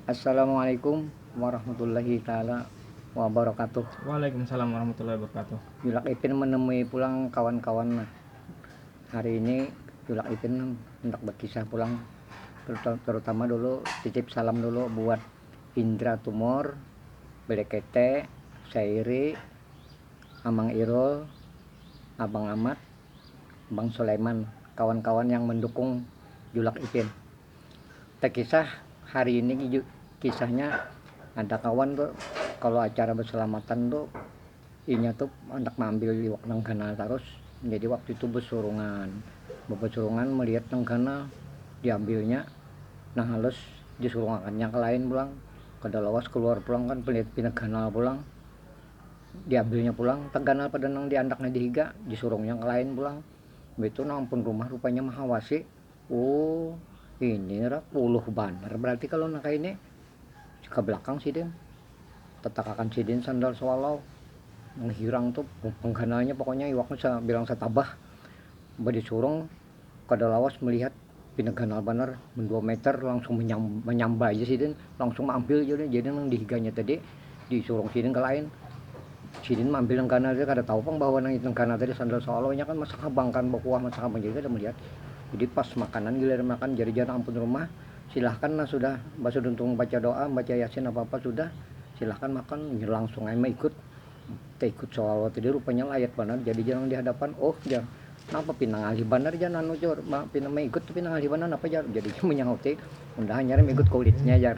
Assalamualaikum warahmatullahi taala wabarakatuh. Waalaikumsalam warahmatullahi wabarakatuh. Julak Ipin menemui pulang kawan-kawan nah. Hari ini Julak Ipin hendak berkisah pulang terutama dulu titip salam dulu buat Indra Tumor, Belekete, Sairi, Amang Irul, Abang Amat, Bang Sulaiman, kawan-kawan yang mendukung Julak Ipin. tekisah hari ini kisahnya ada kawan tuh kalau acara berselamatan tuh inya tuh anak mambil iwak nenggana terus jadi waktu itu besurungan besurungan melihat nenggana diambilnya nah halus disurungakannya ke lain pulang kada lawas keluar pulang kan melihat pinegana pulang diambilnya pulang tegana pada nang diandaknya dihiga disurungnya ke lain pulang itu nang pun rumah rupanya mahawasi. Oh, ini rak puluh banar berarti kalau nak ini ke belakang sidin tetakakan sidin sandal swallow menghirang tuh penggananya pokoknya iwaknya sa, bilang setabah badi surung kada lawas melihat pina ganal banar mendua meter langsung menyambai aja sidin langsung ambil jadi nang dihiganya tadi. di surung sidin ke lain sidin mampil nang ganal tadi kada tahu pang bahwa nang itu nang ganal tadi sandal solo nya kan masak habang kan bakuah masak habang jadi kada melihat jadi pas makanan giliran makan jadi jar ampun rumah silahkan nah sudah basuduntung baca doa baca yasin apa apa sudah silahkan makan inya langsung ai maikut taikut solo tadi rupanya layat banar jadi jar nang di hadapan oh jar. Napa pina ngalih banar jar nanu jar, pina maigut tu pina ngalih banar napa jar, jadinya manyauti unda hanyar maigut kulitnya jar.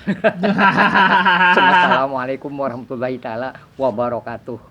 Assalamualaikum warahmatullahi taala wabarakatuh.